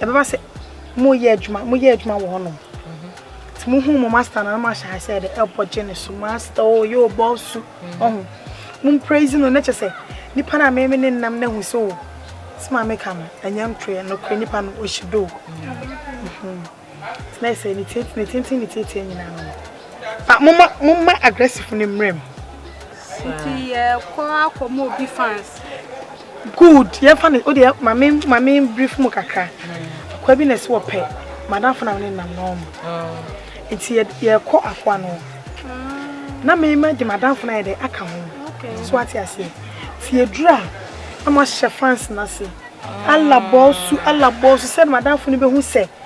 Ɛbɛba sɛ moreyɛ adwuma, moyɛ adwuma wɔ hɔnom. Nti mohu mo master na moahyɛ ase sɛ de ɛbɔ gye ne so. Master o, yɛ o, bɔ su. Ɔho. Mo mpraise no, na kyɛ sɛ nipa no a me ne nam na hu sɛ o, sɛ ma meka no, ɛnyɛ ntorɛ, nokorɛ nipa no, ɔhyi do. Nti na sɛ ne tenten, ne tietie nyinaa no. Ba, momma, momma aggressive no mmerɛ mu. Nti yɛkɔ akɔma obi fans. Good yɛnfa no wodeɛ ma me ma me brief mu kakra akoa bi na ɛsɛ wɔpɛ madamfo na ne nam na ɔmo nti yɛ yɛkɔ afoa no na me ma de madamfo na yɛ dɛ aka ho so ate aseɛ ti edura na mo ahyɛ fans na se alabɔ su alabɔ su sɛ madamfo no bɛ ho sɛ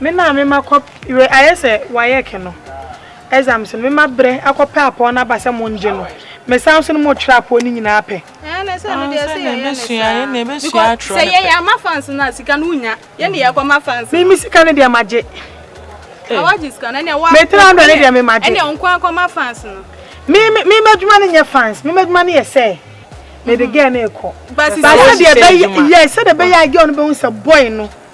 Me na me ma kɔ we ayɛ sɛ waec no exams no me ma brɛ akɔ pɛ apɔw no aba sɛ mo ngye no me san nso no mo twerɛ apɔw no nyinaa pɛ. Ɛɛ na sɛ no deɛ sɛ yɛyɛ ne saa because sɛ yɛyɛ ama fans no a sika no wo nya yɛ ne yɛkɔ ma fans no. Me me sika no deɛ ma gye. Ah wagye sika no ɛneɛ wa me three hundred no deɛ me ma gye. Ɛneɛ nko akɔ ma fans no. Me me me madwuma no nyɛ fans me madwuma no yɛ sɛ me de girl no rekɔ. Ba sisi ɛyɛ sɛ deɛ bɛyɛ yes sɛ deɛ bɛyɛ a girl no bɛhu sɛ boy no.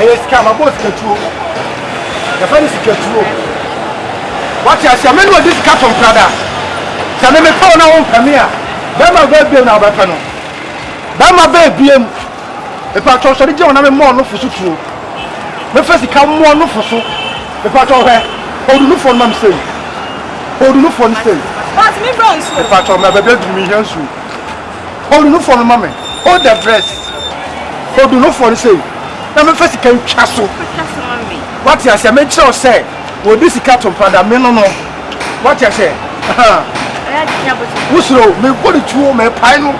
ɛyɛ sika ma bɔɔ sikatuo yɛfɛ no sikatuo wate aseɛ me ne ɔde sika to mprada sɛ me mepɛ wo na wompɛ me a bɛrima bɛbiem na wobɛpɛ no bɛrima bɛbiem Mepaatwɔ sɔre gyina hɔ na memmɔ ɔnofo so tuo. Mɛfa sika mmɔ ɔnofo so. Mepaatwɔ hwɛ, odunufo no ma me sei. Odunufo no sei. But me bra nsuo. Mepaatwɔ ma baabi aduru me hia nsuo. Odunufo no ma me. Hold the breast. Odunufo no sei. Na mɛfa sika ntwa so. Wate aseɛ menkyerɛ wo sɛ wɔde sika to mpa da me no no. Wate aseɛ. Ahaa. Wosuro mebɔ ne tuo mepae no.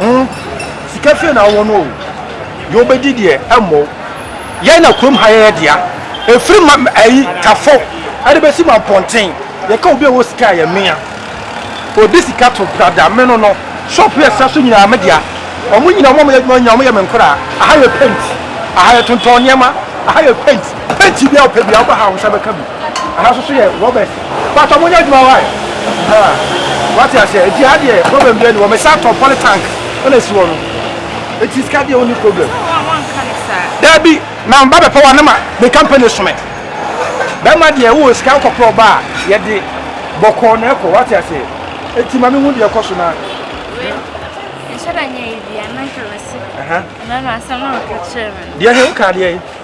Hmm sika fie na wowɔ no o deɛ wobɛdi deɛ ɛmmɔ wo yɛn na kurom ha yɛ yɛ dea ɛfiri ma ayi tafo ɛde bɛsi ma mpɔnten yɛka obi a ɔwɔ sika a yɛ mea ɔde sika to brada me no no shop yɛ sa so nyinaa me dea ɔmo nyina ɔmo a ɔmo yɛ adwuma nyina ɔmo yɛ me nkoraa aha yɛ paint aha yɛ tontɔn nneɛma aha yɛ paint paint bia ɔpɛ bia wobɛha wo nsa bɛka bi. Aha nso so yɛ Robert. Paatɔ mo nyɛ adwuma wae ahaa wate aseɛ nti ha deɛ problem biara ni wɔ me san tɔ poly tank ɛna esi wɔ no nti sika deɛ onni problem. Daabi na me ba bɛpɛ wa na ma me company so me bɛma deɛ wowɔ sika nkɔ prɔ ba a yɛde bɔkɔɔ na ɛkɔ wate aseɛ nti ma me hu deɛ ɛkɔ so na. Nhyɛ da nyɛ yi bi a na nka mɛsi. Ɛna na asɛm na ɔka kyerɛ me. Deɛ he woka deɛ yi.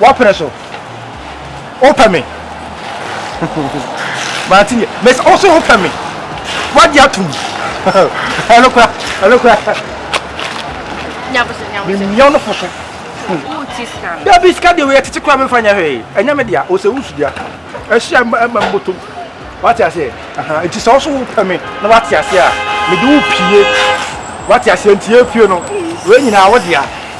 Wapene so. Wopɛ me. Mate nie. Mese wo so wopɛ me. Wagye atom. Ɛno kora. Ɛno kora. Memmia no fo so. Dabi sika deɛ wɔyɛ tete kora memfa nyɛ hwee. Ɛnyɛ me dea. Ɔsɛ wo sudua. Ɛhyɛ ɛma mbotom. Wate aseɛ. Nti sɛ wo so wopɛ me na wate aseɛ a mede wo pie. Wate aseɛ nti yɛfie no. Wei nyinaa wo dea.